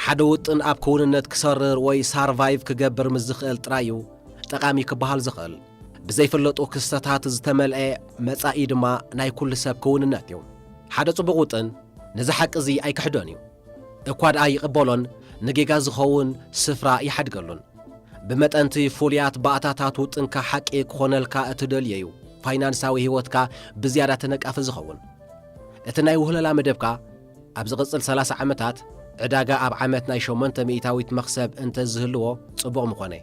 ሓደ ውጥን ኣብ ክውንነት ክሰርር ወይ ሳርቫይቭ ክገብር ምስ ዝኽእል ጥራይ እዩ ጠቓሚ ክበሃል ዝኽእል ብዘይፍለጡ ክስተታት ዝተመልአ መጻኢ ድማ ናይ ኩሉ ሰብ ክውንነት እዩ ሓደ ጽቡቕ ውጥን ነዚ ሓቂ እዚ ኣይክሕዶን እዩ እኳ ደኣ ይቕበሎን ንጌጋ ዝኸውን ስፍራ ይሓድገሉን። ብመጠን'ቲ ፍሉያት ባእታታት ውጥንካ ሓቂ ክኾነልካ እትደልዮ'ዩ ፋይናንሳዊ ህይወትካ ብዝያዳ ተነቃፊ ዝኸውን። እቲ ናይ ውህለላ መደብካ ኣብ ዝቕጽል ሰላሳ ዓመታት ዕዳጋ ኣብ ዓመት ናይ ሸሞንተ ሚእታዊት መኽሰብ እንተ ዝህልዎ ጽቡቕ ምኾነ።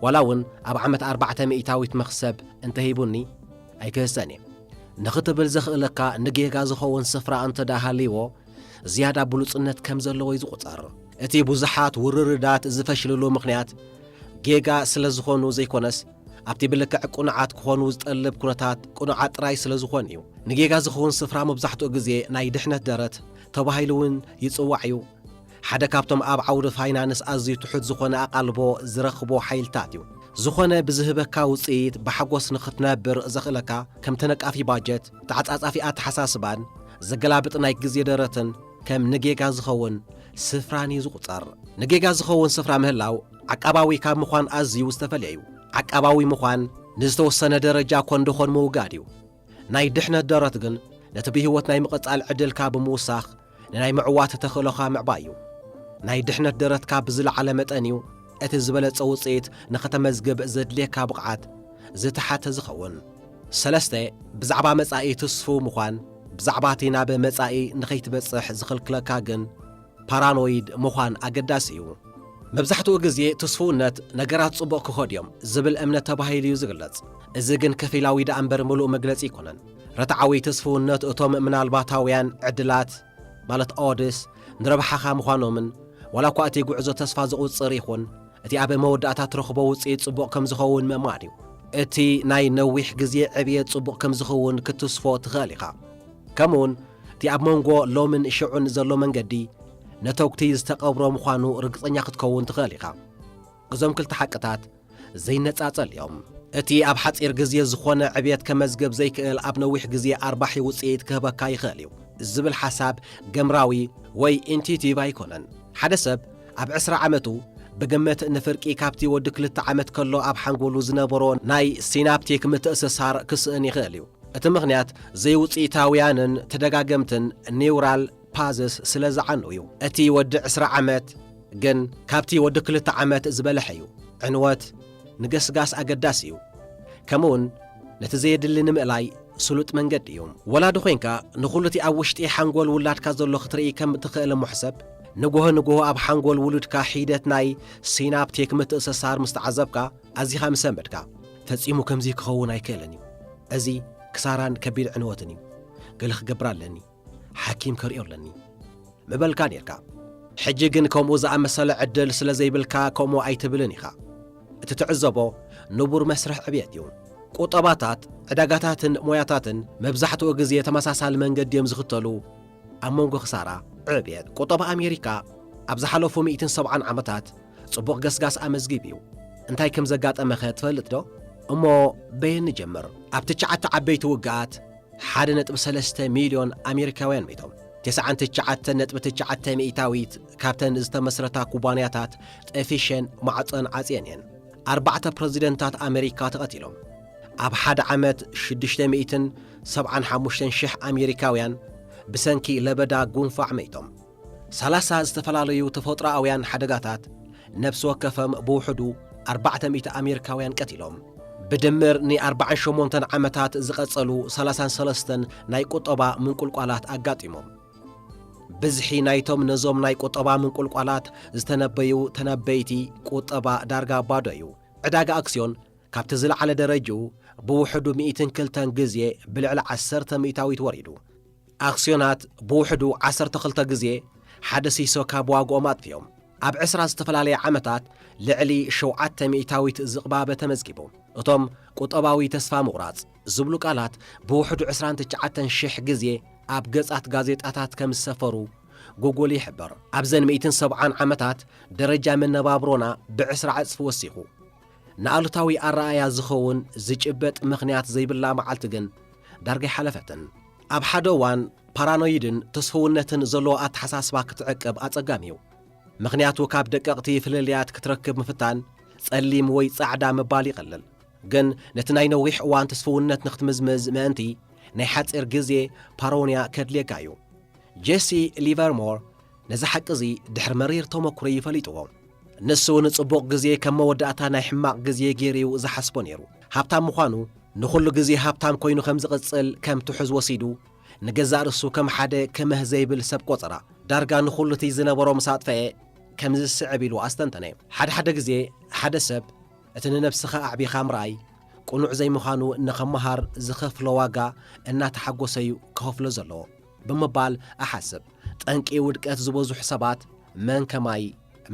ዋላ'ውን ኣብ ዓመት ኣርባዕተ ሚእታዊት መኽሰብ እንተ ሂቡኒ ኣይክህሰን'የ። ንኽትብል ዘኽእለካ ንጌጋ ዝኸውን ስፍራ እንተ ደኣ ሃልይዎ፣ ዝያዳ ብሉጽነት ከም ዘለዎ እዩ ዝቝጸር። እቲ ብዙሓት ውርርዳት ዝፈሽልሉ ምኽንያት ጌጋ ስለ ዝዀኑ ዘይኰነስ፣ ኣብቲ ብልክዕ ቅኑዓት ክዀኑ ዝጠልብ ኵነታት ቅኑዓት ጥራይ ስለ ዝዀኑ እዩ። ንጌጋ ዝኸውን ስፍራ መብዛሕትኡ ግዜ ናይ ድሕነት ደረት ተባሂሉ እውን ይጽዋዕ እዩ። ሓደ ካብቶም ኣብ ዓውዲ ፋይናንስ ኣዝዩ ትሑት ዝዀነ ኣቓልቦ ዝረኽቦ ሓይልታት እዩ። ዝዀነ ብዝህበካ ውጽኢት ብሓጐስ ንኽትነብር ዘኽእለካ፣ ከም ተነቃፊ ባጀት፣ ተዓጻጻፊ ኣተሓሳስባን ዘገላብጥ ናይ ግዜ ደረትን ከም ንጌጋ ዝኸውን ስፍራን እዩ ዝቑጸር። ንጌጋ ዝኸውን ስፍራ ምህላው ዓቃባዊ ካብ ምዃን ኣዝዩ ዝተፈልየ እዩ። ዓቃባዊ ምዃን ንዝተወሰነ ደረጃ ኮን ደኾን ምውጋድ እዩ። ናይ ድሕነት ደረት ግን ነቲ ብህይወት ናይ ምቕጻል ዕድልካ ብምውሳኽ ንናይ ምዕዋት ተኽእሎኻ ምዕባይ እዩ። ናይ ድሕነት ደረትካ ብዝለዓለ መጠን እዩ እቲ ዝበለጸ ውጽኢት ንኸተመዝግብ ዘድልየካ ብቕዓት ዝተሓተ ዝኸውን። ሰለስተ፣ ብዛዕባ መጻኢ ትስፉው ምዃን፣ ብዛዕባ እቲ ናብ መጻኢ ንኸይትበጽሕ ዝኽልክለካ ግን ፓራኖይድ ምዃን ኣገዳሲ እዩ። መብዛሕትኡ ግዜ ትስፉውነት ነገራት ጽቡቕ ክኸዱ እዮም ዝብል እምነት ተባሂሉ እዩ ዝግለጽ። እዚ ግን ከፊላዊ ደኣ እምበር ምሉእ መግለጺ ኣይኮነን። ርትዓዊ ትስፍውነት እቶም ምናልባታውያን ዕድላት ማለት Odds ንረብሓኻ ምዃኖምን፣ ዋላ እኳ እቲ ጉዕዞ ተስፋ ዘቑጽር ይኹን፣ እቲ ኣብ መወዳእታ እትረኽቦ ውጽኢት ጽቡቕ ከም ዝኸውን ምእማን እዩ። እቲ ናይ ነዊሕ ግዜ ዕብየት ጽቡቕ ከም ዝኽውን ክትስፎ ትኽእል ኢኻ። ከምኡውን እቲ ኣብ መንጎ ሎምን ሽዑን ዘሎ መንገዲ ነተጕቲ ዝተቐብሮ ምዃኑ ርግጸኛ ክትከውን ትኽእል ኢኻ። እዞም ክልተ ሓቅታት ዘይነጻጸል እዮም። እቲ ኣብ ሓጺር ግዜ ዝኾነ ዕብየት ከመዝግብ ዘይክእል ኣብ ነዊሕ ግዜ ኣርባሒ ውጽኢት ክህበካ ይኽእል እዩ ዝብል ሓሳብ ገምራዊ ወይ ኢንቲዩቲቭ ኣይኮነን። ሓደ ሰብ ኣብ ዕስራ ዓመቱ ብግምት ንፍርቂ ካብቲ ወዲ ክልተ ዓመት ከሎ ኣብ ሓንጎሉ ዝነበሮ ናይ ሲናፕቲክ ምትእስሳር ክስእን ይኽእል እዩ። እቲ ምኽንያት ዘይውጽኢታውያንን ተደጋገምትን ኒውራል ፓዝስ ስለ ዝዓኑ እዩ። እቲ ወዲ ዕስራ ዓመት ግን ካብቲ ወዲ ክልተ ዓመት ዝበለሐ እዩ። ዕንወት ንገስጋስ ኣገዳሲ እዩ። ከምኡውን ነቲ ዘየድሊ ንምእላይ ስሉጥ መንገዲ እዩ። ወላዲ ኮይንካ ንኹሉ እቲ ኣብ ውሽጢ ሓንጎል ውላድካ ዘሎ ክትርኢ ከም እትኸእል እሞ ሕሰብ። ንጎሆ ንጎሆ ኣብ ሓንጎል ውሉድካ ሒደት ናይ ሲናፕቲክ ምትእሰሳር ምስ ተዓዘብካ ኣዚኻ ምስ ለመድካ። ፈጺሙ ከምዚ ክኸውን ኣይክእልን እዩ። እዚ ክሳራን ከቢድ ዕንወትን እዩ። ገለ ክገብር ኣለኒ። ሓኪም ከርእዮ ኣለኒ ምበልካ ኔርካ ሕጂ ግን ከምኡ ዝኣመሰለ ዕድል ስለ ዘይብልካ ከምኡ ኣይትብልን ኢኻ እቲ ትዕዘቦ ንቡር መስርሕ ዕብየት እዩ ቁጠባታት ዕዳጋታትን ሞያታትን መብዛሕትኡ ግዜ ተመሳሳሊ መንገዲ እዮም ዝኽተሉ ኣብ መንጎ ክሳራ ዕብየት ቁጠባ ኣሜሪካ ኣብ ዝሓለፉ 170 ዓመታት ጽቡቕ ገስጋስ ኣመዝጊብ እዩ እንታይ ከም ዘጋጠመኸ ትፈልጥ ዶ እሞ በየን ንጀምር ኣብ ትሽዓተ ዓበይቲ ውግኣት ሓደ ነጥቢ ሰለስተ ሚልዮን ኣሜሪካውያን ሚቶም ተስዓን ትሽዓተ ነጥቢ ትሽዓተ ሚእታዊት ካብተን ዝተመስረታ ኩባንያታት ጠፊሸን ማዕፀን ዓፅየን እየን። ኣርባዕተ ፕረዚደንታት ኣመሪካ ተቐቲሎም። ኣብ ሓደ ዓመት ሽዱሽተ ሚእትን ሰብዓን ሓሙሽተን ሽሕ ኣሜሪካውያን ብሰንኪ ለበዳ ጉንፋዕ መይቶም። ሰላሳ ዝተፈላለዩ ተፈጥሮኣውያን ሓደጋታት ነብሲ ወከፈም ብውሕዱ ኣርባዕተ ሚእቲ ኣሜሪካውያን ቀቲሎም። ብድምር ን ኣርባዓን ሸሞንተን ዓመታት ዝቐጸሉ ሰላሳን ሰለስተን ናይ ቁጠባ ምንቁልቋላት ኣጋጢሞም። ብዝሒ ናይቶም ነዞም ናይ ቁጠባ ምንቁልቋላት ዝተነበዩ ተነበይቲ ቁጠባ ዳርጋ ባዶ እዩ። ዕዳጋ ኣክስዮን ካብቲ ዝለዓለ ደረጅኡ ብውሕዱ ሚእትን ክልተን ግዜ ብልዕሊ ዓሰርተ ሚእታዊት ወሪዱ። ኣክስዮናት ብውሕዱ ዓሰርተ ክልተ ግዜ ሓደ ሲሶ ካብ ዋግኦም ኣጥፊኦም። ኣብ ዕስራ ዝተፈላለየ ዓመታት ልዕሊ ሸውዓተ ሚእታዊት ዝቕባበ ተመዝጊቡ። እቶም ቁጠባዊ ተስፋ ምቑራጽ ዝብሉ ቃላት ብውሕዱ ዕስራን ትሽዓተን ሽሕ ግዜ ኣብ ገጻት ጋዜጣታት ከም ዝሰፈሩ ጉጉል ይሕብር። ኣብዘን ሚእትን ሰብዓን ዓመታት ደረጃ መነባብሮና ብዕስራ ዕጽፊ ወሲኹ። ንኣሉታዊ ኣረኣእያ ዝኸውን ዝጭበጥ ምኽንያት ዘይብላ መዓልቲ ግን ዳርጋ ኣይሓለፈትን። ኣብ ሓደ እዋን ፓራኖይድን ተስፍውነትን ዘለዎ ኣተሓሳስባ ክትዕቅብ ኣጸጋሚ እዩ። ምኽንያቱ ካብ ደቀቕቲ ፍልልያት ክትረክብ ምፍታን ጸሊም ወይ ጻዕዳ ምባል ይቐልል። ግን ነቲ ናይ ነዊሕ እዋን ተስፍውነት ንክትምዝምዝ ምእንቲ፣ ናይ ሓጺር ግዜ ፓሮንያ ከድልየካ እዩ። ጄሲ ሊቨርሞር ነዚ ሓቂ እዚ ድሕሪ መሪር ተመኩሮ'ዩ ፈሊጥዎ። ንሱ ንጽቡቕ ግዜ ከም መወዳእታ ናይ ሕማቕ ግዜ ገይሩ'ዩ ዝሓስቦ ነይሩ። ሃብታም ምዃኑ፣ ንኹሉ ግዜ ሃብታም ኮይኑ ከም ዝቕጽል ከም ትሑዝ ወሲዱ፣ ንገዛእ ርእሱ ከም ሓደ ክምህ ዘይብል ሰብ ቆጸራ። ዳርጋ ንኹሉ'ቲ ዝነበሮ ምስ ኣጥፈኤ፣ ከምዚ ዝስዕብ ኢሉ ኣስተንተነ። ሓደ ሓደ ግዜ ሓደ ሰብ እቲ ንነብስኻ ኣዕቢኻ ምርኣይ ቅኑዕ ዘይምዃኑ ንኽመሃር ዝኸፍሎ ዋጋ እናተሓጎሰ'ዩ ክኸፍሎ ዘለዎ። ብምባል እሓስብ። ጠንቂ ውድቀት ዝበዙሕ ሰባት መን ከማይ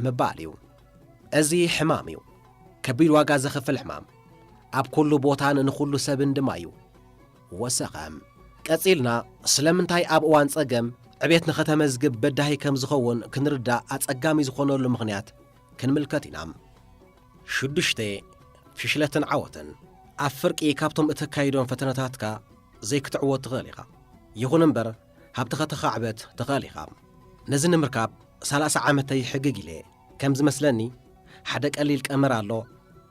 ምባል እዩ። እዚ ሕማም እዩ። ከቢድ ዋጋ ዘኽፍል ሕማም። ኣብ ኩሉ ቦታን ንኹሉ ሰብን ድማ እዩ። ወሰኸ። ቀጺልና ስለምንታይ ኣብ እዋን ጸገም ዕቤት ንኸተመዝግብ በዳሂ ከም ዝኸውን ክንርዳእ ኣጸጋሚ ዝኾነሉ ምኽንያት ክንምልከት ኢና። ሽዱሽተ፣ ፍሽለትን ዓወትን ኣብ ፍርቂ ካብቶም እተካይዶም ፈተነታትካ ዘይክትዕወት ትኽእል ኢኻ። ይኹን እምበር ሃብቲ ከተኻዕበት ትኽእል ኢኻ። ነዚ ንምርካብ ሰላሳ ዓመተይ ሕግግ ኢለ'የ። ከም ዝመስለኒ ሓደ ቀሊል ቀመር ኣሎ፣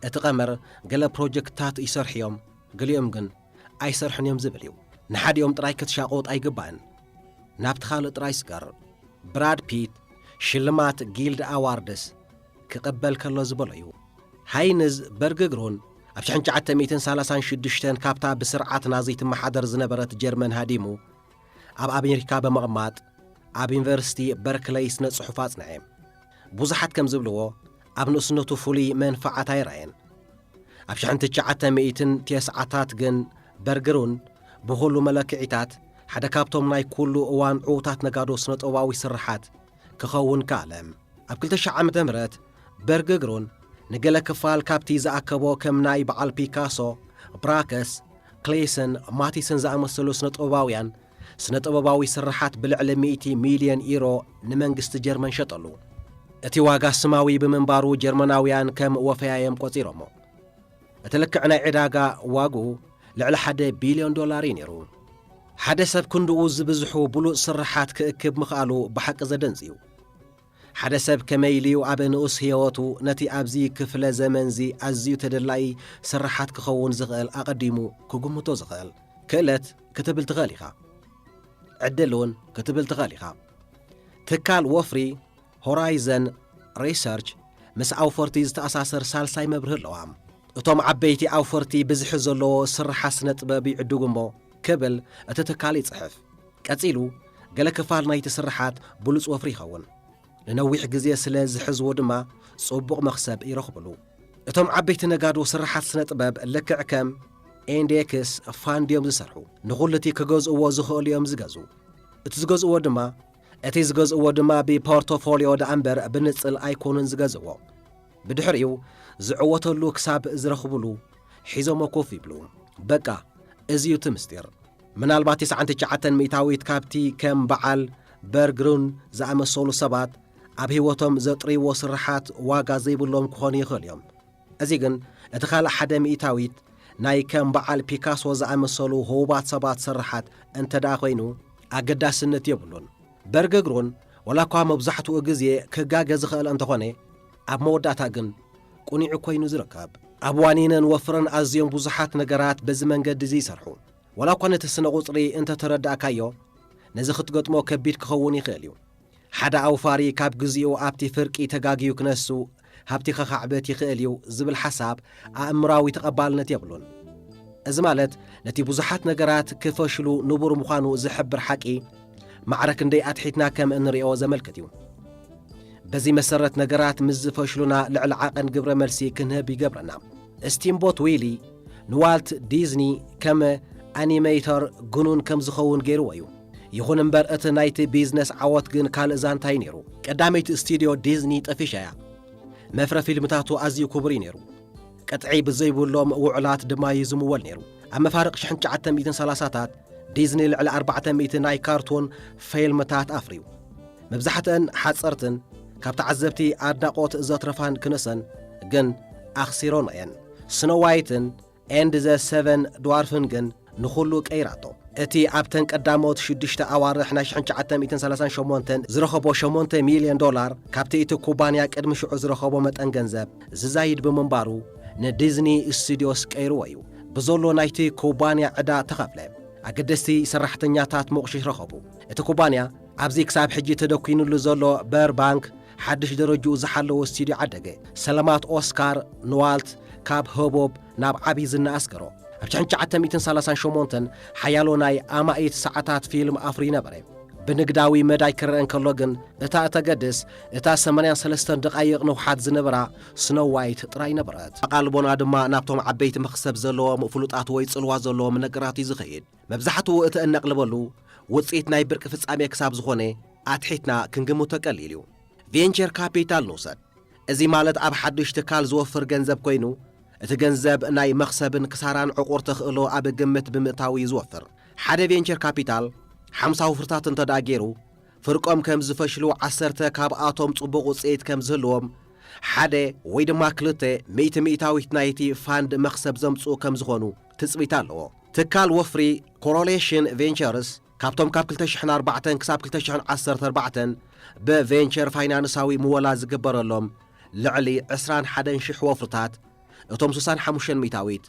እቲ ቀመር ገለ ፕሮጀክትታት ይሰርሑ'ዮም፣ ገሊኦም ግን ኣይሰርሑን'ዮም ዝብል'ዩ። ንሓዲኦም ጥራይ ክትሻቖጥ ኣይግባእን፣ ናብቲ ካልእ ጥራይ ስገር። ብራድ ፒት ሽልማት ጊልድ ኣዋርድስ ክቕበል ከሎ ዝበሎ'ዩ። ሃይንዝ በርግግሩን ኣብ ሽሕን ትሽዓተ ሚእትን ሳላሳን ሽዱሽተን ካብታ ብስርዓት ናዚ ትመሓደር ዝነበረት ጀርመን ሃዲሙ ኣብ ኣሜሪካ ብምቕማጥ ኣብ ዩኒቨርሲቲ በርክለይ ስነ ጽሑፍ ኣጽንዐ። ብዙሓት ከም ዝብልዎ ኣብ ንእስነቱ ፍሉይ መንፍዓት ኣይረኣየን። ኣብ ሽሕን ትሽዓተ ሚእትን ቴስዓታት ግን በርግሩን ብኹሉ መለክዒታት ሓደ ካብቶም ናይ ኩሉ እዋን ዕዉታት ነጋዶ ስነ ጥበባዊ ስርሓት ክኸውን ከኣለ። ኣብ ክልተ ሽሕ ዓመተ ምህረት በርግግሩን ንገለ ክፋል ካብቲ ዝኣከቦ ከም ናይ በዓል ፒካሶ፣ ብራከስ፣ ክሌሰን፣ ማቲሰን ዝኣመሰሉ ስነ-ጥበባውያን ስነ-ጥበባዊ ስርሓት ብልዕሊ ሚእቲ ሚልዮን ዩሮ ንመንግስቲ ጀርመን ሸጠሉ። እቲ ዋጋ ስማዊ ብምንባሩ ጀርመናውያን ከም ወፈያዮም ቆጺሮሞ። እቲ ልክዕ ናይ ዕዳጋ ዋግኡ ልዕሊ ሓደ ቢልዮን ዶላር እዩ ነይሩ። ሓደ ሰብ ክንድኡ ዝብዝሑ ብሉጽ ስርሓት ክእክብ ምኽኣሉ ብሓቂ ዘደንጽ እዩ። ሓደ ሰብ ከመይ ኢሉ'ዩ ኣብ ንኡስ ህየወቱ ነቲ ኣብዚ ክፍለ ዘመን'ዚ ኣዝዩ ተደላዪ ስርሓት ክኸውን ዝኽእል ኣቐዲሙ ክግምቶ ዝኽእል? ክእለት ክትብል ትኽእል ኢኻ። ዕድል'ውን ክትብል ትኽእል ኢኻ። ትካል ወፍሪ ሆራይዘን ሪሰርች ምስ ኣውፈርቲ ዝተኣሳሰር ሳልሳይ መብርሂ ኣለዋ። እቶም ዓበይቲ ኣውፈርቲ ብዝሒ ዘለዎ ስርሓት ስነ-ጥበብ ይዕድጉ እሞ ክብል እቲ ትካል ይጽሕፍ። ቀጺሉ ገለ ክፋል ናይቲ ስርሓት ብሉጽ ወፍሪ ይኸውን። ንነዊሕ ግዜ ስለ ዝሕዝዎ ድማ ጽቡቕ መኽሰብ ይረኽቡሉ። እቶም ዓበይቲ ነጋዶ ስርሓት ስነ-ጥበብ ልክዕ ከም ኢንዴክስ ፋንድ'ዮም ዝሰርሑ። ንኹሉ'ቲ ክገዝእዎ ዝኽእሉ'ዮም ዝገዝኡ። እቲ ዝገዝእዎ ድማ እቲ ዝገዝእዎ ድማ ብፖርቶፎልዮ ደኣ እምበር ብንጽል ኣይኮኑን ዝገዝእዎ። ብድሕሪኡ ዝዕወተሉ ክሳብ ዝረኽቡሉ ሒዞሞ ኮፍ ይብሉ። በቃ እዚ'ዩ እቲ ምስጢር። ምናልባት ትስዓን ትሽዓተን ሚእታዊት ካብቲ ከም በዓል በርግሩን ዝኣመሰሉ ሰባት ኣብ ህይወቶም ዘጥርይዎ ስርሓት ዋጋ ዘይብሎም ክኾኑ ይኽእሉ እዮም። እዚ ግን እቲ ካልእ ሓደ ሚእታዊት ናይ ከም በዓል ፒካሶ ዝኣመሰሉ ህቡባት ሰባት ስርሓት እንተደኣ ኮይኑ ኣገዳስነት የብሉን። በርገግሩን ወላኳ መብዛሕትኡ ግዜ ክጋገ ዝኸእል እንተኾነ ኣብ መወዳእታ ግን ቁኒዑ ኮይኑ ዝርከብ። ኣብ ዋኒንን ወፍርን ኣዝዮም ብዙሓት ነገራት በዚ መንገዲ እዚ ይሰርሑ። ወላኳ ነቲ ስነ-ቁጽሪ እንተተረዳእካዮ ነዚ ክትገጥሞ ከቢድ ክኸውን ይኸእል እዩ። ሓደ ኣውፋሪ ካብ ግዚኡ ኣብቲ ፍርቂ ተጋግዩ ክነሱ፣ ሃብቲ ከኻዕብት ይኽእል እዩ ዝብል ሓሳብ ኣእምሮኣዊ ተቐባልነት የብሉን። እዚ ማለት ነቲ ብዙሓት ነገራት ክፈሽሉ ንቡር ምዃኑ ዝሕብር ሓቂ ማዕረ ክንደይ ኣትሒትና ከም እንሪኦ ዘመልክት እዩ። በዚ መሰረት ነገራት ምስ ዝፈሽሉና ልዕሊ ዓቐን ግብረ መልሲ ክንህብ ይገብረና። ስቲምቦት ዊሊ ንዋልት ዲዝኒ ከም ኣኒመይተር ግኑን ከም ዝኸውን ገይርዎ እዩ። ይኹን እምበር እቲ ናይቲ ቢዝነስ ዓወት ግን ካልእ ዛንታ እዩ ነይሩ። ቀዳመይቲ ስቱድዮ ዲዝኒ ጠፊሻ እያ። መፍረ ፊልምታቱ ኣዝዩ ክቡር እዩ ነይሩ። ቅጥዒ ብዘይብሎም ውዑላት ድማ እዩ ዝምወል ነይሩ። ኣብ መፋርቕ ሽሕን ትሽዓተ ሚእትን ሰላሳታት ዲዝኒ ልዕሊ ኣርባዕተ ሚእቲ ናይ ካርቱን ፊልምታት ኣፍርዩ። መብዛሕትአን ሓጸርትን ካብ ተዓዘብቲ ኣድናቖት ዘትረፋን ክንሰን ግን ኣኽሲሮን እየን። ስኖ ዋይትን ኤንድ ዘ ሰቨን ድዋርፍን ግን ንኹሉ ቀይራቶ። እቲ ኣብተን ቀዳሞት ሽዱሽተ ኣዋርሕ ናይ 1938 ዝረኸቦ 8 ሚልዮን ዶላር ካብቲ እቲ ኩባንያ ቅድሚ ሽዑ ዝረኸቦ መጠን ገንዘብ ዝዛይድ ብምንባሩ ንዲዝኒ ስቱድዮስ ቀይርዎ እዩ። ብዘሎ ናይቲ ኩባንያ ዕዳ ተኸፍለ። ኣገደስቲ ሰራሕተኛታት ሞቕሽሽ ረኸቡ። እቲ ኩባንያ ኣብዚ ክሳብ ሕጂ ተደኲንሉ ዘሎ በር ባንክ ሓድሽ ደረጅኡ ዝሓለወ ስቱድዮ ዓደገ ሰለማት ኦስካር ንዋልት ካብ ህቦብ ናብ ዓቢ ዝና ኣስገሮ። ኣብ ሽሕን ትሽዓተ ሚእትን ሰላሳን ሸሞንተን ሓያሎ ናይ ኣማኢት ሰዓታት ፊልም ኣፍርዩ ነበረ። ብንግዳዊ መዳይ ክረኣ እንከሎ ግን እታ እተገድስ እታ ሰማንያን ሰለስተን ደቓይቕ ንውሓት ዝነበራ ስኖው ዋይት ጥራይ ነበረት። ኣቓልቦና ድማ ናብቶም ዓበይቲ መኽሰብ ዘለዎም ፍሉጣት ወይ ጽልዋ ዘለዎም ነገራት እዩ ዝኸይድ። መብዛሕትኡ እቲ እነቕልበሉ ውጽኢት ናይ ብርቂ ፍጻሜ ክሳብ ዝኾነ ኣትሒትና ክንግምቶ ቀሊል እዩ። ቬንቸር ካፒታል ንውሰድ። እዚ ማለት ኣብ ሓድሽ ትካል ዝወፍር ገንዘብ ኮይኑ፣ እቲ ገንዘብ ናይ መኽሰብን ክሳራን ዕቑር ተኽእሎ ኣብ ግምት ብምእታው እዩ ዝወፍር። ሓደ ቬንቸር ካፒታል ሓምሳ ወፍርታት እንተድኣ ገይሩ፣ ፍርቆም ከም ዝፈሽሉ ዓሰርተ ካብኣቶም ጽቡቕ ውጽኢት ከም ዝህልዎም፣ ሓደ ወይ ድማ ክልተ ሚእቲ ሚእታዊት ናይቲ ፋንድ መኽሰብ ዘምጽኡ ከም ዝኾኑ፣ ትጽቢት ኣለዎ። ትካል ወፍሪ ኮሮሌሽን ቬንቸርስ ካብቶም ካብ ክልተ ሽሕን ኣርባዕተን ክሳብ ክልተ ሽሕን ዓሰርተ ኣርባዕተን ብቬንቸር ፋይናንሳዊ ምወላ ዝግበረሎም ልዕሊ ዕስራን ሓደን ሽሕ ወፍርታት እቶም ስሳን ሓሙሽተን ሚእታዊት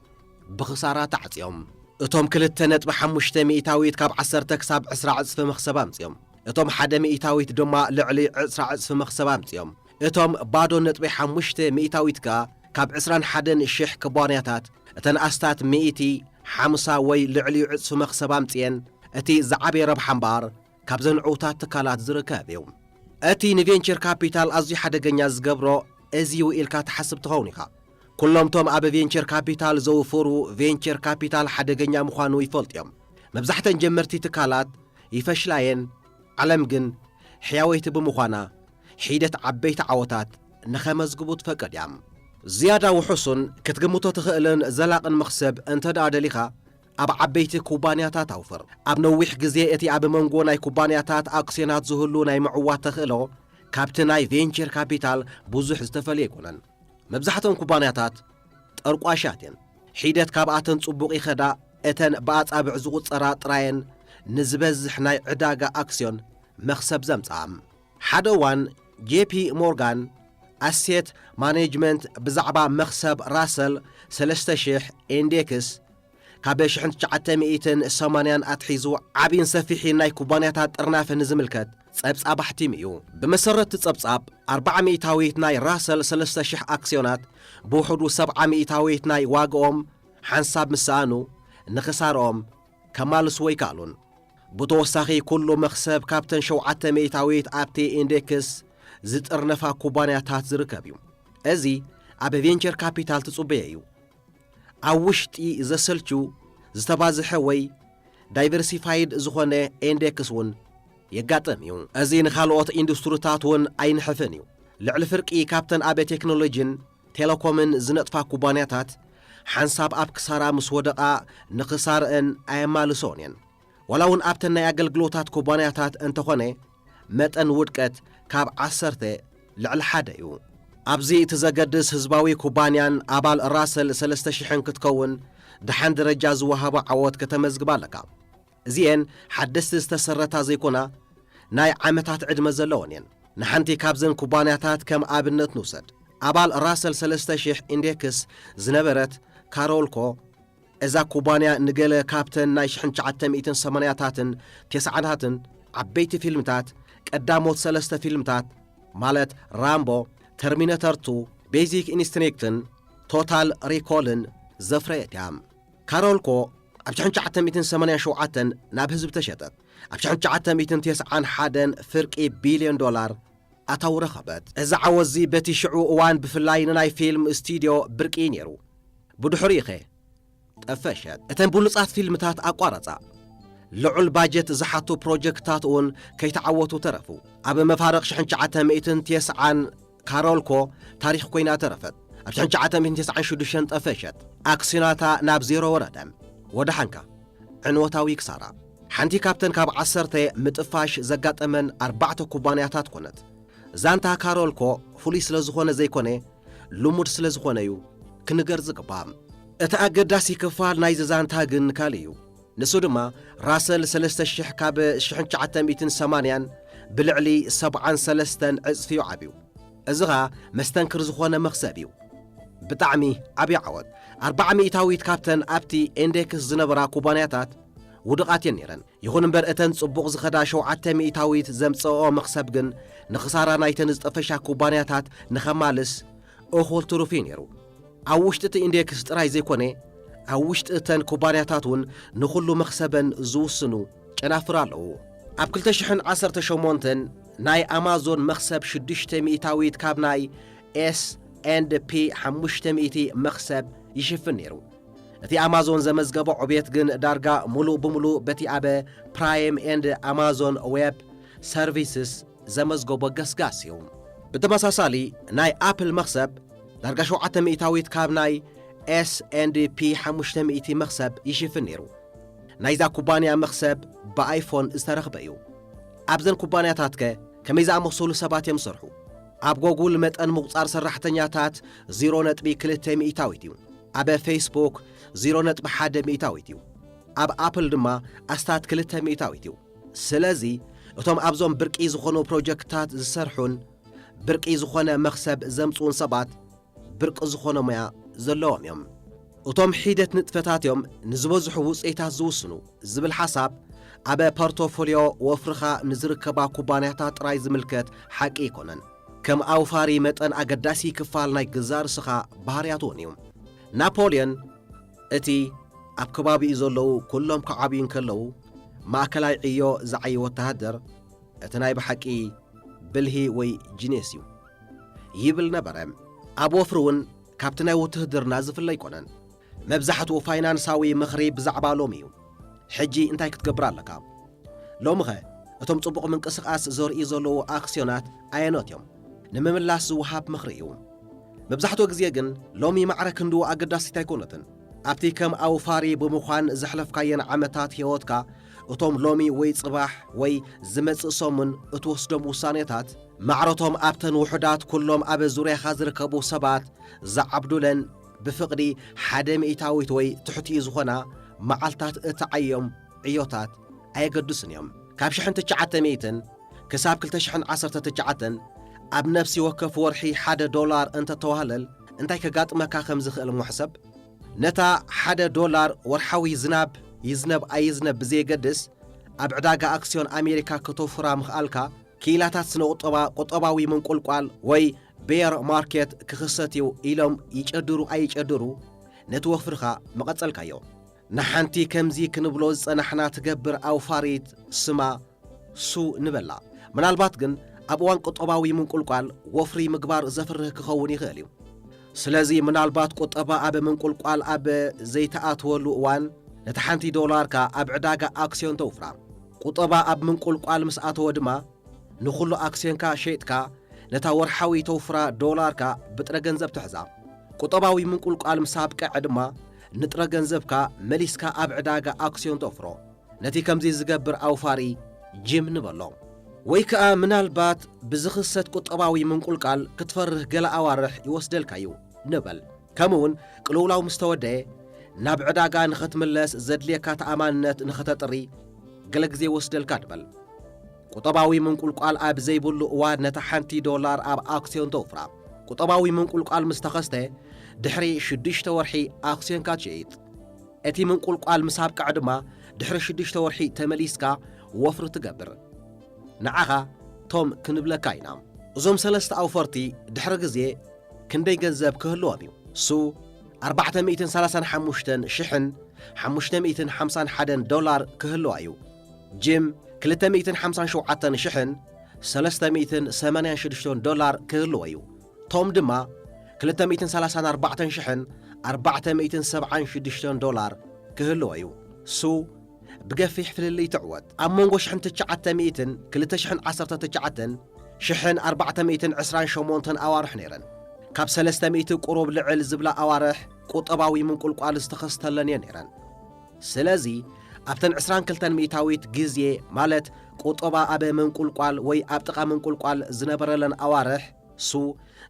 ብኽሳራ ተዓጽዮም። እቶም ክልተ ነጥቢ ሓሙሽተ ሚእታዊት ካብ ዓሰርተ ክሳብ ዕስራ ዕጽፊ መኽሰብ ኣምጺኦም። እቶም ሓደ ሚእታዊት ድማ ልዕሊ ዕስራ ዕጽፊ መኽሰብ ኣምጺኦም። እቶም ባዶ ነጥቢ ሓሙሽተ ሚእታዊት ከኣ ካብ ዕስራን ሓደን ሽሕ ክቧንያታት እተን ኣስታት ሚእቲ ሓምሳ ወይ ልዕሊኡ ዕጽፊ መኽሰብ ኣምጺኤን እቲ ዝዓበየ ረብሓ እምበኣር ካብዘን ዕውታት ትካላት ዝርከብ እዩ። እቲ ንቬንቸር ካፒታል ኣዝዩ ሓደገኛ ዝገብሮ እዚ'ዩ ኢልካ ትሓስብ ትኸውን ኢኻ። ኩሎም'ቶም ኣብ ቬንቸር ካፒታል ዘውፍሩ ቬንቸር ካፒታል ሓደገኛ ምዃኑ ይፈልጡ እዮም። መብዛሕተን ጀመርቲ ትካላት ይፈሽላ'የን፣ ዓለም ግን ሕያወይቲ ብምዃና ሒደት ዓበይቲ ዓወታት ንኸመዝግቡ ትፈቅድ እያ። ዝያዳ ውሑሱን ክትግምቶ ትኽእልን ዘላቕን መኽሰብ እንተድኣ ደሊኻ፣ ኣብ ዓበይቲ ኩባንያታት ኣውፍር። ኣብ ነዊሕ ግዜ እቲ ኣብ መንጎ ናይ ኩባንያታት ኣክስዮናት ዝህሉ ናይ ምዕዋት ተኽእሎ ካብቲ ናይ ቬንቸር ካፒታል ብዙሕ ዝተፈልየ ኣይኮነን። መብዛሕትኦን ኩባንያታት ጠርቋሻት እየን። ሒደት ካብኣተን ጽቡቕ ይኸዳ፣ እተን ብኣጻብዕ ዝቑጸራ ጥራየን ንዝበዝሕ ናይ ዕዳጋ ኣክስዮን መኽሰብ ዘምጽኣ። ሓደ እዋን ጄፒ ሞርጋን ኣሴት ማኔጅመንት ብዛዕባ መኽሰብ ራሰል ሰለስተ ሽሕ ኢንዴክስ ካብ ሽሕን ትሽዓተ ሚእትን ሰማንያን ኣትሒዙ ዓቢን ሰፊሒን ናይ ኩባንያታት ጥርናፈ ንዝምልከት ጸብጻብ ኣሕቲሙ እዩ። ብመሰረት እቲ ጸብጻብ ኣርብዓ ሚእታዊት ናይ ራሰል ሰለስተ ሽሕ ኣክስዮናት ብውሕዱ ሰብዓ ሚእታዊት ናይ ዋግኦም ሓንሳብ ምስ ሰኣኑ ንኽሳርኦም ከማልስዎ ኣይከኣሉን። ብተወሳኺ ኩሉ መኽሰብ ካብተን ሸውዓተ ሚእታዊት ኣብቲ ኢንዴክስ ዝጥርነፋ ኩባንያታት ዝርከብ እዩ። እዚ ኣብ ቬንቸር ካፒታል ትጽበዮ እዩ። ኣብ ውሽጢ ዘሰልችው ዝተባዝሐ ወይ ዳይቨርሲፋይድ ዝኾነ ኢንዴክስ እውን የጋጥም እዩ። እዚ ንኻልኦት ኢንዱስትሪታት እውን ኣይንሕፍን እዩ። ልዕሊ ፍርቂ ካብተን ኣብ ቴክኖሎጂን ቴለኮምን ዝነጥፋ ኩባንያታት ሓንሳብ ኣብ ክሳራ ምስ ወደቓ ንክሳረኣን ኣየማልሰኦን እየን። ዋላ እውን ኣብተን ናይ ኣገልግሎታት ኩባንያታት እንተኾነ መጠን ውድቀት ካብ ዓሰርተ ልዕሊ ሓደ እዩ። ኣብዚ እቲ ዘገድስ ህዝባዊ ኩባንያን ኣባል ራሰል ሰለስተ ሽሕን ክትከውን ደሓን ደረጃ ዝወሃቦ ዓወት ከተመዝግብ ኣለካ። እዚኤን ሓደስቲ ዝተሰረታ ዘይኮና ናይ ዓመታት ዕድመ ዘለወን እየን። ንሓንቲ ካብዘን ኩባንያታት ከም ኣብነት ንውሰድ። ኣባል ራሰል ሰለስተ ሽሕ ኢንዴክስ ዝነበረት ካሮልኮ፣ እዛ ኩባንያ ንገለ ካብተን ናይ ሽሕን ትሽዓተ ሚእትን ሰማንያታትን ቴስዓታትን ዓበይቲ ፊልምታት፣ ቀዳሞት ሰለስተ ፊልምታት ማለት ራምቦ፣ ተርሚነተር ቱ፣ ቤዚክ ኢንስትኒክትን ቶታል ሪኮልን ዘፍረየት እያ። ካሮልኮ ኣብ ሽሕን ትሽዓተ ሚእትን ሰማንያን ሸውዓተን ናብ ህዝቢ ተሸጠት። ኣብ ሽሕን ትሽዓተ ሚእትን ቴስዓን ሓደን ፍርቂ ቢልዮን ዶላር ኣታዊ ረኸበት። እዚ ዓወትዚ በቲ ሽዑ እዋን ብፍላይ ንናይ ፊልም ስቱድዮ ብርቂ እዩ ነይሩ። ብድሕሪኡኸ ጠፈሸት። እተን ብሉጻት ፊልምታት ኣቋረጻ። ልዑል ባጀት ዝሓቱ ፕሮጀክትታት እውን ከይተዓወቱ ተረፉ። ኣብ መፋርቕ ሽሕን ትሽዓተ ሚእትን ቴስዓን ካሮልኮ ታሪኽ ኮይና ተረፈት። ኣብ ሽሕን ትሽዓተ ሚእትን ተስዓን ሽዱሽተን ጠፈሸት። ኣክስዮናታ ናብ ዜሮ ወረደ። ወደሓንካ! ዕንወታዊ ክሳራ። ሓንቲ ካብተን ካብ ዓሰርተ ምጥፋሽ ዘጋጠመን ኣርባዕተ ኩባንያታት ኮነት። ዛንታ ካሮልኮ ፍሉይ ስለ ዝኾነ ዘይኮነ፣ ልሙድ ስለ ዝኾነ'ዩ ክንገር ዝግባእ። እቲ ኣገዳሲ ክፋል ናይዚ ዛንታ ግን ካልእ'ዩ። ንሱ ድማ ራሰል ሰለስተ ሽሕ ካብ ሽሕን ትሽዓተ ሚእትን ሰማንያን ብልዕሊ ሰብዓን ሰለስተን ዕጽፊ'ዩ ዓብዩ። እዚ ኸኣ መስተንክር ዝኾነ መኽሰብ'ዩ። ብጣዕሚ ዓብዪ ዓወት። ኣርብዓ ሚእታዊት ካብተን ኣብቲ ኢንዴክስ ዝነበራ ኩባንያታት ውዱቓት'የን ነይረን። ይኹን እምበር እተን ጽቡቕ ዝኸዳ ሸውዓተ ሚእታዊት ዘምጽእኦ መኽሰብ ግን ንኽሳራ ናይተን ዝጠፈሻ ኩባንያታት ንኸማልስ እኹል ትሩፍ'ዩ ነይሩ። ኣብ ውሽጢ እቲ ኢንዴክስ ጥራይ ዘይኮነ ኣብ ውሽጢ እተን ኩባንያታት እውን ንኹሉ መኽሰበን ዝውስኑ ጨናፍር ኣለዉ። ኣብ ክልተ ሽሕን ዓሰርተ ሸሞንተን ናይ ኣማዞን መኽሰብ ሽዱሽተ ሚእታዊት ካብ ናይ ኤስ ኤንድ ፒ ሓሙሽተ ሚእቲ መኽሰብ ይሽፍን ነይሩ። እቲ ኣማዞን ዘመዝገቦ ዕቤት ግን ዳርጋ ምሉእ ብምሉእ በቲ ኣብ ፕራይም ኤንድ ኣማዞን ዌብ ሰርቪስስ ዘመዝገቦ ገስጋስ እዩ። ብተመሳሳሊ ናይ ኣፕል መኽሰብ ዳርጋ ሸውዓተ ሚእታዊት ካብ ናይ ኤስ ኤንድ ፒ ሓሙሽተ ሚእቲ መኽሰብ ይሽፍን ነይሩ። ናይዛ ኩባንያ መኽሰብ ብኣይፎን ዝተረኽበ እዩ። ኣብዘን ኩባንያታትከ ከመይ ዝኣመሰሉ ሰባት እዮም ዝሰርሑ? ኣብ ጎጉል መጠን ምቑጻር ሰራሕተኛታት ዜሮ ነጥቢ ክልተ ሚእታዊት እዩ። ኣብ ፌስቡክ ዜሮ ነጥቢ ሓደ ሚእታዊት እዩ። ኣብ ኣፕል ድማ ኣስታት ክልተ ሚእታዊት እዩ። ስለዚ እቶም ኣብዞም ብርቂ ዝኾኑ ፕሮጀክትታት ዝሰርሑን ብርቂ ዝኾነ መኽሰብ ዘምጽኡን ሰባት ብርቂ ዝኾነ ሞያ ዘለዎም እዮም። እቶም ሒደት ንጥፈታት እዮም ንዝበዝሑ ውጽኢታት ዝውስኑ ዝብል ሓሳብ ኣብ ፖርቶፎልዮ ወፍርኻ ንዝርከባ ኩባንያታት ጥራይ ዝምልከት ሓቂ ኣይኮነን። ከም ኣውፋሪ መጠን ኣገዳሲ ክፋል ናይ ገዛእ ርእስኻ ባህርያት እውን እዩ። ናፖልዮን እቲ ኣብ ከባቢኡ ዘለዉ ኩሎም ክዓብዩ እንከለዉ ማእከላይ ዕዮ ዝዓዪ ወተሃደር እቲ ናይ ብሓቂ ብልሂ ወይ ጂኔስ እዩ ይብል ነበረ። ኣብ ወፍሪ እውን ካብቲ ናይ ውትህድርና ዝፍለ ኣይኮነን። መብዛሕትኡ ፋይናንሳዊ ምኽሪ ብዛዕባ ሎሚ እዩ። ሕጂ እንታይ ክትገብር ኣለካ? ሎሚኸ እቶም ጽቡቕ ምንቅስቓስ ዘርእዩ ዘለዉ ኣክስዮናት ኣየኖት እዮም? ንምምላስ ዝወሃብ ምኽሪ እዩ። መብዛሕትኡ ግዜ ግን ሎሚ ማዕረ ክንድኡ ኣገዳሲት ኣይኮነትን። ኣብቲ ከም ኣውፋሪ ብምዃን ዘሕለፍካየን ዓመታት ህይወትካ፣ እቶም ሎሚ ወይ ጽባሕ ወይ ዝመጽእ ሰሙን እትወስዶም ውሳኔታት፣ ማዕረቶም ኣብተን ውሑዳት ኩሎም ኣብ ዙርያኻ ዝርከቡ ሰባት ዝዓብዱለን ብፍቕዲ ሓደ ሚእታዊት ወይ ትሕቲኡ ዝኾና መዓልታት እትዓዮም ዕዮታት ኣየገድሱን እዮም። ካብ ሽሕን ትሽዓተ ሚእትን ክሳብ ክልተ ሽሕን ዓሰርተ ትሽዓተን ኣብ ነፍሲ ወከፍ ወርሒ ሓደ ዶላር እንተ ተዋህለል እንታይ ከጋጥመካ ከም ዝኽእል እሞ ሕሰብ። ነታ ሓደ ዶላር ወርሓዊ ዝናብ ይዝነብ ኣይዝነብ ብዘየገድስ ኣብ ዕዳጋ ኣክስዮን ኣሜሪካ ከተውፍራ ምኽኣልካ፣ ክኢላታት ስነ-ቁጠባ ቁጠባዊ ምንቁልቋል ወይ ቤር ማርኬት ክኽሰት እዩ ኢሎም ይጨድሩ ኣይጨድሩ ነቲ ወፍርኻ ምቐጸልካዮ። ንሓንቲ ከምዚ ክንብሎ ዝጸናሕና ትገብር ኣውፋሪት ስማ ሱ ንበላ። ምናልባት ግን ኣብ እዋን ቁጠባዊ ምንቁልቋል ወፍሪ ምግባር ዘፍርህ ክኸውን ይኽእል እዩ። ስለዚ ምናልባት ቁጠባ ኣብ ምንቁልቋል ኣብ ዘይትኣትወሉ እዋን ነታ ሓንቲ ዶላርካ ኣብ ዕዳጋ ኣክስዮን ተውፍራ። ቁጠባ ኣብ ምንቁልቋል ምስ ኣተወ ድማ ንኹሉ ኣክስዮንካ ሸይጥካ ነታ ወርሓዊ ተውፍራ ዶላርካ ብጥረ ገንዘብ ትሕዛ። ቁጠባዊ ምንቁልቋል ምስ ኣብቀዐ ድማ ንጥረ ገንዘብካ መሊስካ ኣብ ዕዳጋ ኣክስዮን ተውፍሮ። ነቲ ከምዚ ዝገብር ኣውፋሪ ጂም ንበሎ። ወይ ከኣ ምናልባት ብዝኽሰት ቁጠባዊ ምንቁልቃል ክትፈርህ ገለ ኣዋርሕ ይወስደልካ እዩ ንበል። ከምኡውን ቅልውላው ምስ ተወደየ ናብ ዕዳጋ ንኸትምለስ ዘድልየካ ተኣማንነት ንኸተጥሪ ገለ ግዜ ይወስደልካ ንበል። ቁጠባዊ ምንቁልቋል ኣብ ዘይብሉ እዋን ነታ ሓንቲ ዶላር ኣብ ኣክስዮን ተውፍራ። ቁጠባዊ ምንቁልቋል ምስ ተኸስተ ድሕሪ ሽዱሽተ ወርሒ ኣክስዮንካ ትሸይጥ። እቲ ምንቁልቋል ምስ ኣብቅዐ ድማ ድሕሪ ሽዱሽተ ወርሒ ተመሊስካ ወፍሪ ትገብር። ንዓኻ ቶም ክንብለካ ኢና። እዞም ሰለስተ ኣውፈርቲ ድሕሪ ግዜ ክንደይ ገንዘብ ክህልዎም እዩ? su፣ ኣርባዕተ ሚእትን ሰላሳን ሓሙሽተን ሽሕን ሓሙሽተ ሚእትን ሓምሳን ሓደን ዶላር ክህልዋ እዩ። ጂም ክልተ ሚእትን ሓምሳን ሸውዓተን ሽሕን ሰለስተ ሚእትን ሰማንያን ሽዱሽተን ዶላር ክህልዎ እዩ። ቶም ድማ ክልተ ሚእትን ሰላሳን ኣርባዕተን ሽሕን ኣርባዕተ ሚእትን ሰብዓን ሽዱሽተን ዶላር ክህልዎ እዩ። ሱ ብገፊሕ ፍልልይ ትዕወት። ኣብ መንጎ ሽሕን ትሽዓተ ሚእትን ክልተ ሽሕን ዓሰርተ ትሽዓተን ሽሕን ኣርባዕተ ሚእትን ዕስራን ሸሞንተን ኣዋርሕ ነይረን። ካብ ሰለስተ ሚእቲ ቁሩብ ልዕል ዝብላ ኣዋርሕ ቁጠባዊ ምንቁልቋል ዝተኸስተለን እየን ነይረን። ስለዚ ኣብተን ዕስራን ክልተን ሚእታዊት ግዜ ማለት ቁጠባ ኣብ ምንቁልቋል ወይ ኣብ ጥቓ ምንቁልቋል ዝነበረለን ኣዋርሕ፣ ሱ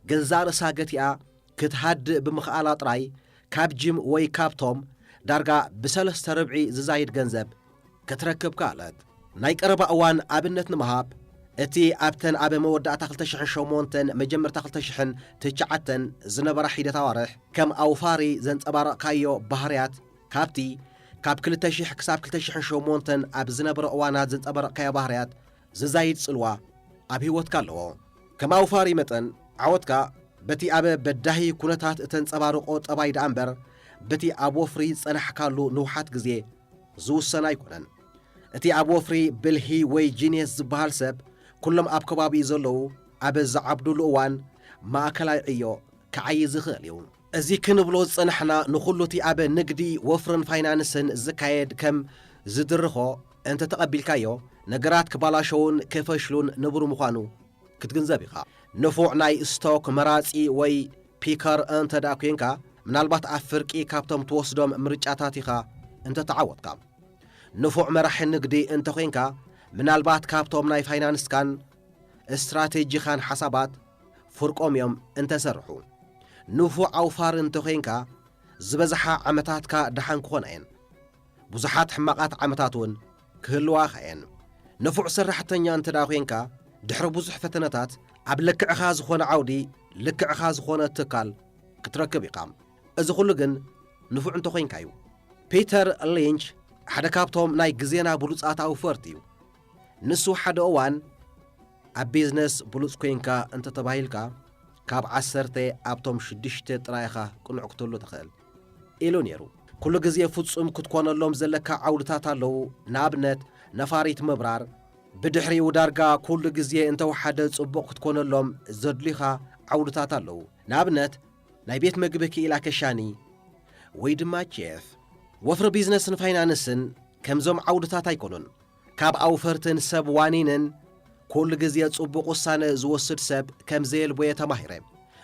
ገዛእ ርእሳ ገቲኣ ክትሃድእ ብምኽኣላ ጥራይ ካብ ጂም ወይ ካብቶም ዳርጋ ብሰለስተ ርብዒ ዝዛይድ ገንዘብ ክትረክብ ከኣለት። ናይ ቀረባ እዋን ኣብነት ንምሃብ፣ እቲ ኣብተን ኣብ መወዳእታ ክልተ ሽሕን ሸሞንተን መጀመርታ ክልተ ሽሕን ትሽዓተን ዝነበራ ሒደት ኣዋርሕ ከም ኣውፋሪ ዘንጸባረቕካዮ ባህርያት ካብቲ ካብ ክልተ ሽሕ ክሳብ ክልተ ሽሕን ሸሞንተን ኣብ ዝነበረ እዋናት ዘንጸበረቕካዮ ባህርያት ዝዛይድ ጽልዋ ኣብ ህይወትካ ኣለዎ። ከም ኣውፋሪ መጠን ዓወትካ በቲ ኣብ በዳሂ ኩነታት እተንጸባርቖ ጠባይ ደኣ እምበር በቲ ኣብ ወፍሪ ዝጸናሕካሉ ንውሓት ግዜ ዝውሰን ኣይኮነን። እቲ ኣብ ወፍሪ ብልሂ ወይ ጂንየስ ዝበሃል ሰብ ኩሎም ኣብ ከባቢኡ ዘለዉ ኣብ ዝዓብዱሉ እዋን ማእከላይ ዕዮ ክዓዪ ዝኽእል እዩ። እዚ ክንብሎ ዝጸናሕና ንኹሉ'ቲ ኣብ ንግዲ፣ ወፍርን ፋይናንስን ዝካየድ ከም ዝድርኾ እንተ ተቐቢልካዮ ነገራት ክባላሸዉን ክፈሽሉን ንቡር ምዃኑ ክትግንዘብ ኢኻ። ንፉዕ ናይ ስቶክ መራጺ ወይ ፒከር እንተድኣ ኴንካ ምናልባት ኣብ ፍርቂ ካብቶም ትወስዶም ምርጫታት ኢኻ እንተ ተዓወትካ። ንፉዕ መራሒ ንግዲ እንተ ዄንካ ምናልባት ካብቶም ናይ ፋይናንስካን እስትራቴጂኻን ሓሳባት ፍርቆም እዮም እንተሰርሑ። ንፉዕ ኣውፋሪ እንተዄንካ ዝበዝሓ ዓመታትካ ደሓን ክኾና እየን። ብዙሓት ሕማቓት ዓመታት እውን ክህልዋኻ እየን። ንፉዕ ሰራሕተኛ እንተድኣ ዄንካ ድሕሪ ብዙሕ ፈተነታት ኣብ ልክዕኻ ዝኾነ ዓውዲ ልክዕኻ ዝኾነ ትካል ክትረክብ ኢኻ። እዚ ኹሉ ግን ንፉዕ እንተኾይንካ እዩ። ፒተር ሊንች ሓደ ካብቶም ናይ ግዜና ብሉጻት ኣውፈርቲ እዩ። ንሱ ሓደ እዋን ኣብ ቢዝነስ ብሉጽ ኮይንካ እንተ ተባሂልካ ካብ ዓሰርተ ኣብቶም ሽዱሽተ ጥራይ ኢኻ ቅኑዕ ክትህሉ ትኽእል ኢሉ ነይሩ። ኩሉ ግዜ ፍጹም ክትኮነሎም ዘለካ ዓውድታት ኣለዉ፣ ንኣብነት ነፋሪት ምብራር፣ ብድሕሪኡ ዳርጋ ኩሉ ግዜ እንተ ወሓደ ጽቡቕ ክትኮነሎም ዘድልዩኻ ዓውድታት ኣለዉ፣ ንኣብነት ናይ ቤት መግቢ ክኢላ ከሻኒ ወይ ድማ ቼፍ። ወፍሪ ቢዝነስን ፋይናንስን ከምዞም ዓውድታት ኣይኮኑን። ካብ ኣውፈርትን ሰብ ዋኒንን ኩሉ ግዜ ጽቡቕ ውሳነ ዝወስድ ሰብ ከም ዘየልቦ'የ ተማሂረ።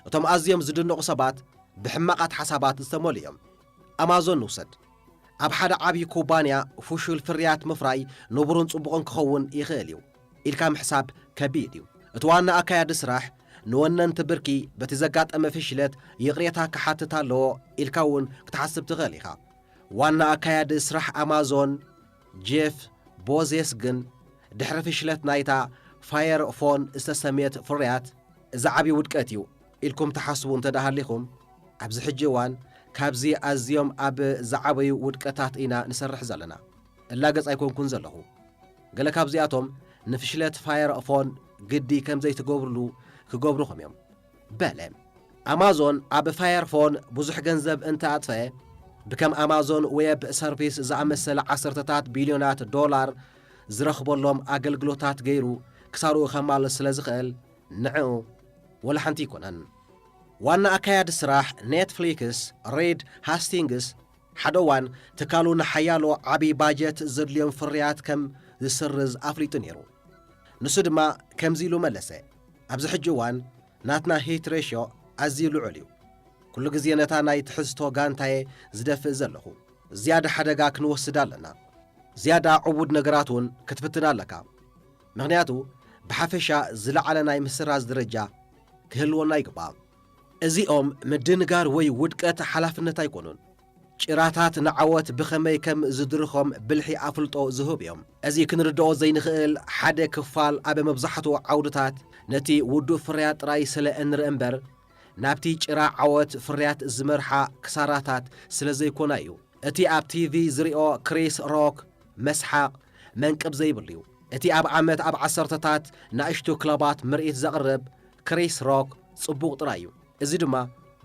እቶም ኣዝዮም ዝድነቑ ሰባት ብሕማቓት ሓሳባት ዝተመልኡ እዮም። ኣማዞን ንውሰድ። ኣብ ሓደ ዓብዪ ኩባንያ ፍሹል ፍርያት ምፍራይ ንቡርን ጽቡቕን ክኸውን ይኽእል እዩ ኢልካ ምሕሳብ ከቢድ እዩ። እቲ ዋና ኣካያዲ ስራሕ ንወነንቲ ብርኪ በቲ ዘጋጠመ ፍሽለት ይቕሬታ ክሓትት ኣለዎ ኢልካ'ውን ክትሓስብ ትኽእል ኢኻ። ዋና ኣካያዲ ስራሕ ኣማዞን፣ ጄፍ ቦዜስ ግን፣ ድሕሪ ፍሽለት ናይታ ፋየር ፎን ዝተሰምየት ፍርያት፣ እዚ ዓቢ ውድቀት እዩ ኢልኩም ትሓስቡ እንተደኣሃሊኹም፣ ኣብዚ ሕጂ እዋን ካብዚ ኣዝዮም ኣብ ዝዓበዩ ውድቀታት ኢና ንሰርሕ ዘለና። እላገጽ ኣይኮንኩን ዘለኹ። ገለ ካብዚኣቶም ንፍሽለት ፋየር ፎን ግዲ ከምዘይትገብሩሉ ክገብሩኹም እዮም። በለ። ኣማዞን ኣብ ፋየርፎን ብዙሕ ገንዘብ እንተ ኣጥፈ፣ ብከም ኣማዞን ዌብ ሰርቪስ ዝኣመሰለ ዓሰርተታት ቢልዮናት ዶላር ዝረኽበሎም ኣገልግሎታት ገይሩ ክሳርኡ ከማልእ ስለ ዝኽእል ንዕኡ ወላ ሓንቲ ኣይኮነን። ዋና ኣካያዲ ስራሕ ኔትፍሊክስ ሪድ ሃስቲንግስ፣ ሓደ እዋን ትካሉ ንሓያሎ ዓቢ ባጀት ዘድልዮም ፍርያት ከም ዝስርዝ ኣፍሊጡ ነይሩ። ንሱ ድማ ከምዚ ኢሉ መለሰ። ኣብዚ ሕጂ እዋን ናትና ሂት ሬሽዮ ኣዝዩ ልዑል እዩ። ኩሉ ግዜ ነታ ናይ ትሕዝቶ ጋንታየ ዝደፍእ ዘለኹ። ዝያዳ ሓደጋ ክንወስድ ኣለና። ዝያዳ ዕቡድ ነገራት እውን ክትፍትን ኣለካ። ምኽንያቱ ብሓፈሻ ዝለዓለ ናይ ምስራዝ ደረጃ ክህልወና ይግባእ። እዚኦም ምድንጋር ወይ ውድቀት ሓላፍነት ኣይኮኑን። ጭራታት ንዓወት ብኸመይ ከም ዝድርኾም ብልሒ ኣፍልጦ ዝህቡ እዮም። እዚ ክንርድኦ ዘይንኽእል ሓደ ክፋል ኣብ መብዛሕትኡ ዓውድታት ነቲ ውዱእ ፍርያት ጥራይ ስለ እንርኢ እምበር ናብቲ ጭራ ዓወት ፍርያት ዝመርሓ ክሳራታት ስለ ዘይኮና እዩ። እቲ ኣብ ቲቪ ዝሪኦ ክሪስ ሮክ መስሓቕ መንቅብ ዘይብሉ እዩ። እቲ ኣብ ዓመት ኣብ ዓሰርተታት ናእሽቱ ክለባት ምርኢት ዘቕርብ ክሪስ ሮክ ጽቡቕ ጥራይ እዩ። እዚ ድማ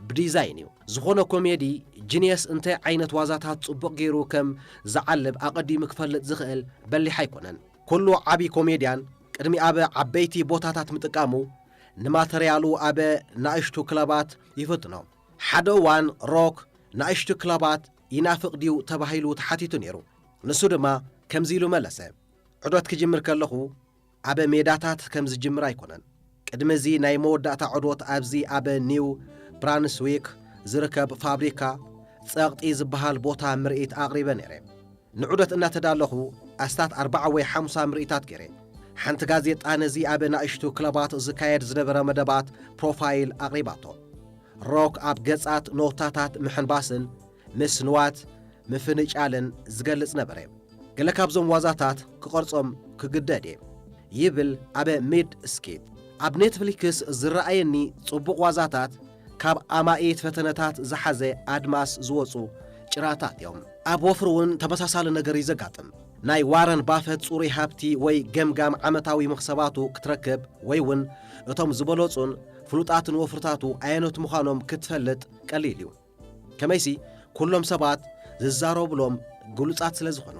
ብዲዛይን እዩ። ዝኾነ ኮሜዲ ጂንየስ እንታይ ዓይነት ዋዛታት ጽቡቕ ገይሩ ከም ዝዓልብ ኣቐዲሙ ክፈልጥ ዝኽእል በሊሕ ኣይኮነን። ኩሉ ዓቢ ኮሜድያን ቅድሚ ኣብ ዓበይቲ ቦታታት ምጥቃሙ ንማተርያሉ ኣብ ናእሽቱ ክለባት ይፍትኖ። ሓደ እዋን ሮክ ናእሽቱ ክለባት ይናፍቕ ድዩ ተባሂሉ ተሓቲቱ ነይሩ። ንሱ ድማ ከምዚ ኢሉ መለሰ፣ ዑደት ክጅምር ከለኹ ኣብ ሜዳታት ከም ዝጅምር ኣይኮነን። ቅድሚ እዚ ናይ መወዳእታ ዑዶት ኣብዚ ኣብ ኒው ብራንስዊክ ዝርከብ ፋብሪካ ጸቕጢ ዝበሃል ቦታ ምርኢት ኣቕሪበ ነይረ። ንዑደት እናተዳለኹ ኣስታት ኣርባዓ ወይ ሓምሳ ምርኢታት ገይረ። ሓንቲ ጋዜጣ ነዚ ኣብ ናእሽቱ ክለባት ዝካየድ ዝነበረ መደባት ፕሮፋይል ኣቕሪባቶ። ሮክ ኣብ ገጻት ኖታታት ምሕንባስን ምስ ንዋት ምፍንጫልን ዝገልጽ ነበረ። ገለ ካብዞም ዋዛታት ክቐርጾም ክግደድ እየ። ይብል ኣብ ሚድ ስኪት። ኣብ ኔትፍሊክስ ዝረኣየኒ ጽቡቕ ዋዛታት ካብ ኣማኢት ፈተነታት ዝሓዘ ኣድማስ ዝወጹ ጭራታት እዮም። ኣብ ወፍሪ እውን ተመሳሳሊ ነገር እዩ ዘጋጥም። ናይ ዋረን ባፈት ጽሩይ ሃብቲ ወይ ገምጋም ዓመታዊ መኽሰባቱ ክትረክብ ወይ እውን እቶም ዝበለጹን ፍሉጣትን ወፍርታቱ ኣየኖት ምዃኖም ክትፈልጥ ቀሊል እዩ። ከመይሲ ኩሎም ሰባት ዝዛረቡሎም ግሉጻት ስለ ዝኾኑ፣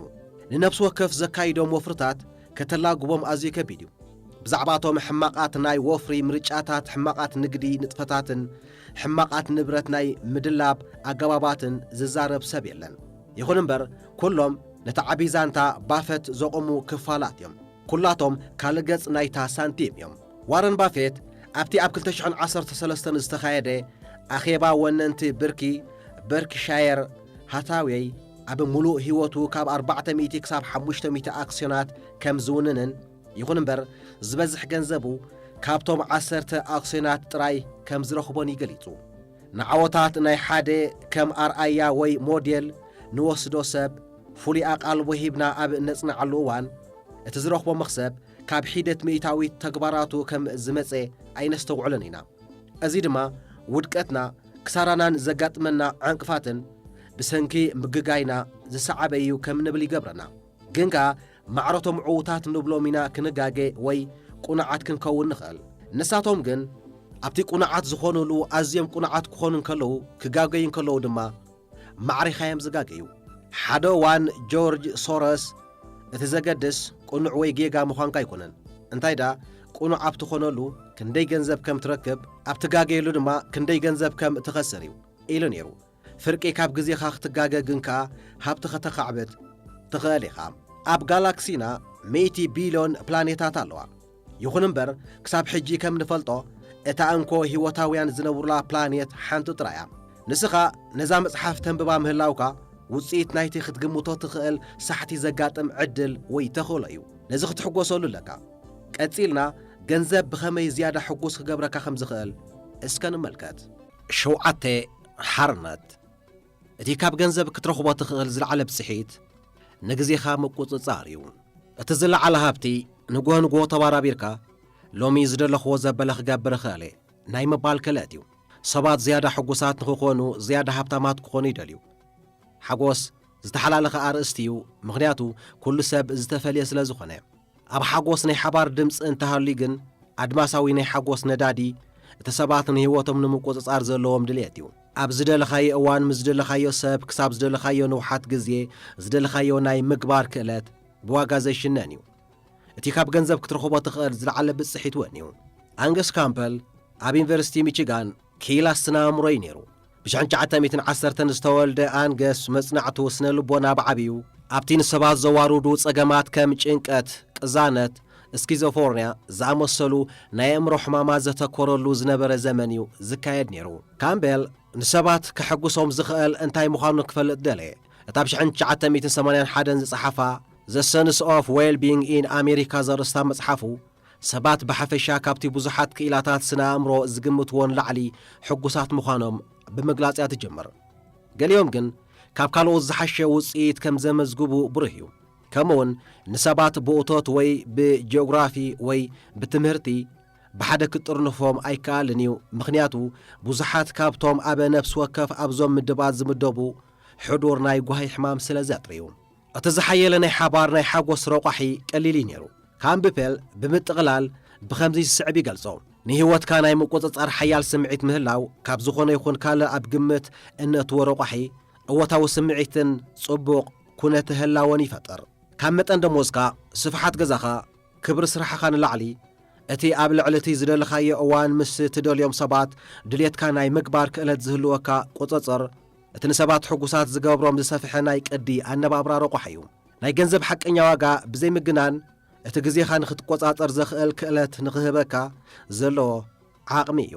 ንነፍሲ ወከፍ ዘካይዶም ወፍርታት ከተላግቦም ኣዝዩ ከቢድ እዩ። ብዛዕባ'ቶም ሕማቓት ናይ ወፍሪ ምርጫታት፣ ሕማቓት ንግዲ ንጥፈታትን ሕማቓት ንብረት ናይ ምድላብ ኣገባባትን ዝዛረብ ሰብ የለን። ይኹን እምበር ኩሎም ነቲ ዓቢ ዛንታ ባፈት ዘቑሙ ክፋላት እዮም። ኵላቶም ካልእ ገጽ ናይታ ሳንቲም እዮም። ዋረን ባፌት ኣብቲ ኣብ ክልተ ሽሕን ዓሰርተ ሰለስተን ዝተኻየደ ኣኼባ ወነንቲ ብርኪ በርክሻየር ሃታዌይ፣ ኣብ ምሉእ ህይወቱ ካብ ኣርባዕተ ሚእቲ ክሳብ ሓሙሽተ ሚእቲ ኣክስዮናት ከም ዝውንንን ይዅን እምበር ዝበዝሕ ገንዘቡ ካብቶም ዓሰርተ ኣክስዮናት ጥራይ ከም ዝረኽቦን እዩ ገሊጹ። ንዓወታት ናይ ሓደ ከም ኣርኣያ ወይ ሞዴል ንወስዶ ሰብ ፍሉይ ኣቓልቦ ሂብና ኣብ እነጽንዓሉ እዋን፣ እቲ ዝረኽቦ መኽሰብ ካብ ሒደት ሚእታዊት ተግባራቱ ከም ዝመጸ ኣይነስተውዕሎን ኢና። እዚ ድማ ውድቀትና፣ ክሳራናን ዘጋጥመና ዕንቅፋትን ብሰንኪ ምግጋይና ዝሰዓበ እዩ ከም ንብል ይገብረና። ግን ከኣ ማዕረ'ቶም ዕዉታት ንብሎም ኢና ክንጋገ ወይ ቅኑዓት ክንከውን ንኽእል። ንሳቶም ግን ኣብቲ ቅኑዓት ዝኾኑሉ ኣዝዮም ቅኑዓት ክኾኑ እንከለዉ ክጋገዩ እንከለዉ ድማ ማዕሪኻዮም ዝጋገዩ። ሓደ ዋን ጆርጅ ሶረስ እቲ ዘገድስ ቅኑዕ ወይ ጌጋ ምዃንካ ኣይኮነን እንታይ ድኣ ቅኑዕ ኣብ ትኾነሉ ክንደይ ገንዘብ ከም ትረክብ ኣብ ትጋገየሉ ድማ ክንደይ ገንዘብ ከም ትኸስር እዩ ኢሉ ነይሩ። ፍርቂ ካብ ግዜኻ ክትጋገ ግን ከኣ ሃብቲ ከተኻዕብት ትኽእል ኢኻ። ኣብ ጋላክሲና ሚእቲ ቢልዮን ፕላኔታት ኣለዋ። ይኹን እምበር ክሳብ ሕጂ ከም ንፈልጦ እታ እንኮ ህይወታውያን ዝነብሩላ ፕላኔት ሓንቲ ጥራይ እያ። ንስኻ ነዛ መጽሓፍ ተንብባ ምህላውካ ውጽኢት ናይቲ ክትግምቶ ትኽእል ሳሕቲ ዘጋጥም ዕድል ወይ ተኽእሎ እዩ። ነዚ ክትሕጎሰሉ ኣለካ። ቀጺልና ገንዘብ ብኸመይ ዝያዳ ሕጉስ ክገብረካ ከም ዝኽእል እስከ ንመልከት። ሸውዓተ ሓርነት፣ እቲ ካብ ገንዘብ ክትረኽቦ ትኽእል ዝለዓለ ብጽሒት ንግዜኻ ምቁጽጻር እዩ። እቲ ዝለዓለ ሃብቲ ንግሆ ንግሆ ተባራቢርካ ሎሚ ዝደለኽዎ ዘበለ ክገብር እኽእል እየ ናይ ምባል ክእለት እዩ። ሰባት ዝያዳ ሕጉሳት ንኽኾኑ ዝያዳ ሃብታማት ክኾኑ ይደልዩ። ሓጎስ ዝተሓላለኸ ኣርእስቲ እዩ ምኽንያቱ ኩሉ ሰብ ዝተፈልየ ስለዝኾነ። ኣብ ሓጎስ ናይ ሓባር ድምጺ እንተሃልዩ ግን ኣድማሳዊ ናይ ሓጎስ ነዳዲ እቲ ሰባት ንህይወቶም ንምቁጽጻር ዘለዎም ድልየት እዩ። ኣብ ዝደለኻዮ እዋን ምስ ዝደለኻዮ ሰብ ክሳብ ዝደለኻዮ ንውሓት ግዜ ዝደለኻዮ ናይ ምግባር ክእለት ብዋጋ ዘይሽነን እዩ። እቲ ካብ ገንዘብ ክትረኽቦ ትኽእል ዝለዓለ ብጽሒት እውን እዩ። ኣንገስ ካምፐል ኣብ ዩኒቨርሲቲ ሚቺጋን ኪኢላ ስነ ኣእምሮ እዩ ነይሩ። ብሽሕ ትሽዓተ ሚእትን ዓሰርተን ዝተወልደ ኣንገስ መጽናዕቱ ስነ ልቦና ብዓቢኡ ኣብቲ ንሰባት ዘዋርዱ ጸገማት ከም ጭንቀት፣ ቅዛነት፣ ስኪዞፎርንያ ዝኣመሰሉ ናይ ኣእምሮ ሕማማት ዘተኮረሉ ዝነበረ ዘመን እዩ ዝካየድ ነይሩ። ካምቤል ንሰባት ከሐጕሶም ዝኽእል እንታይ ምዃኑ ክፈልጥ ደለየ። እታ ብ ሽሕን ትሽዓተ ሚእትን ሰማንያን ሓደን ዝጸሓፋ The Sense of Well-Being in America ዘርእስታ መጽሓፉ ሰባት ብሓፈሻ ካብቲ ብዙሓት ክኢላታት ስነ ኣእምሮ ዝግምትዎ ንላዕሊ ሕጉሳት ምዃኖም ብምግላጽ እያ ትጅምር። ገሊኦም ግን ካብ ካልኦት ዝሓሸ ውጽኢት ከም ዘመዝግቡ ብሩህ እዩ። ከምኡውን ንሰባት ብእቶት ወይ ብጂኦግራፊ ወይ ብትምህርቲ ብሓደ ክትጥርንፎም ኣይከኣልን እዩ፣ ምኽንያቱ ብዙሓት ካብቶም ኣብ ነፍሲ ወከፍ ኣብዞም ምድባት ዝምደቡ ሕዱር ናይ ጓሂ ሕማም ስለ ዘጥርዩ። እቲ ዝሓየለ ናይ ሓባር ናይ ሓጎስ ረቋሒ ቀሊል እዩ ነይሩ። ካምፕፔል ብምጥቕላል ብኸምዚ ዝስዕብ ይገልጾ፣ ንህይወትካ ናይ ምቁጽጻር ሓያል ስምዒት ምህላው ካብ ዝኾነ ይኹን ካልእ ኣብ ግምት እነእትዎ ረቋሒ እወታዊ ስምዒትን ጽቡቕ ኩነተ ህላወን ይፈጥር። ካብ መጠን ደሞዝካ፣ ስፍሓት ገዛኻ፣ ክብሪ ስራሕኻ ንላዕሊ፣ እቲ ኣብ ልዕሊ እቲ ዝደለኻዮ እዋን ምስ እትደልዮም ሰባት ድሌትካ ናይ ምግባር ክእለት ዝህልወካ ቁጽጽር፣ እቲ ንሰባት ሕጉሳት ዝገብሮም ዝሰፍሐ ናይ ቅዲ ኣነባብራ ረቋሒ እዩ። ናይ ገንዘብ ሓቀኛ ዋጋ ብዘይምግናን እቲ ግዜኻ ንኽትቆጻጸር ዘኽእል ክእለት ንኽህበካ ዘለዎ ዓቕሚ እዩ።